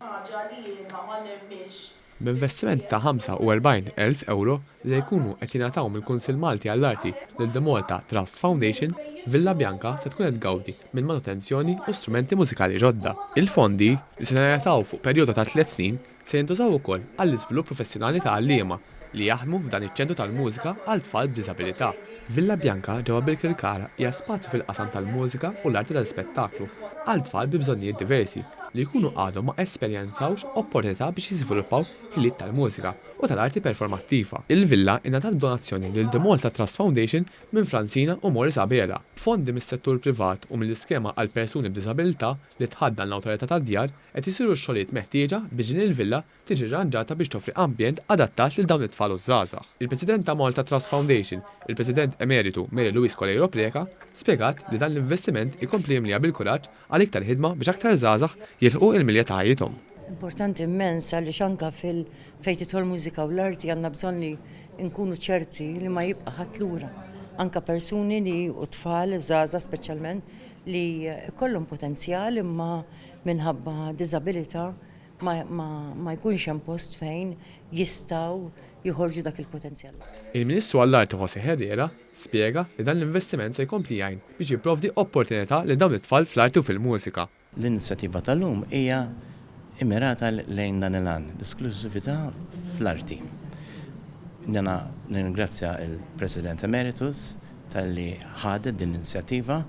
Ħaġa li jiena ma nemminx li B'investiment ta' 45 elf ewro se jkunu qed jingħataw mill-Kunsill Malti għall-Arti lil The Malta Trust Foundation, Villa Bianca se tkun qed tgawdi minn manutenzjoni u strumenti mużikali ġodda. Il-fondi, li se jingħataw fuq perjodu ta' tliet snin, Se jintużaw ukoll għall-iżvilupp professjonali ta' għalliema li jaħdmu f'dan iċ-Ċentru tal-Mużika għal Tfal b'Diżabilità. Villa Bianca ġewwa Birkirkara hija spazju fil-qasam tal-mużika u l-arti tal-ispettaklu għal tfal bi bżonnijiet diversi li jkunu għadhom ma esperjenzawx opportunità biex jiżviluppaw ħiliet tal-mużika u tal-arti performattiva. Il-villa ingħatat b'donazzjoni lil The Malta Trust Foundation minn Francina u Maurice Abela, b'fondi mis-settur privat u mill-Iskema għal Persuni b'Diżabilità li tħaddan l-Awtorità tad-Djar, Qed isiru x-xogħlijiet meħtieġa biex din il-villa tiġi rranġata biex toffri ambjent adattat lil dawn it-tfal u ż-żgħażagħ. Il-President ta' Malta Trust Foundation, il-President Emeritu Mary Louise Coleiro Preca, spjegat li dan l-investiment ikompli jimliha bil-kuraġġ għal iktar ħidma biex aktar żgħażagħ jilħqu il-milja ta' ħajjithom. Importanti immens għaliex anke fil fejn tidħol mużika u l-arti għandna bżonn li nkunu ċerti li ma jibqa' ħadd lura. Anke persuni li u tfal u żgħażagħ speċjalment li jkollhom potenzjal imma minħabba diżabilità ma jkunx hemm post fejn jistgħu joħorġu dak il-potenzjal. Il-Ministru għall-Arti José Herrera spjega li dan l-investiment se jkompli jgħin biex jipprovdi opportunità lil dawn it-tfal fl-arti u fil-mużika. L-inizjattiva tal-lum hija mmirata lejn dan il-għan, l-isklużività fl-arti. Jiena nirringrazzja l-President Emeritus talli ħadet din l-inizjattiva.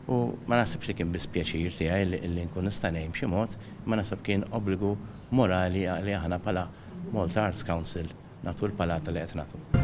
u ma naħsibx li kien biss pjaċir tiegħi li nkun nista' ngħin b'xi mod, imma naħseb kien obbligu morali li aħna bħala Malta Arts Council nagħtu l-palata li qed nagħtu.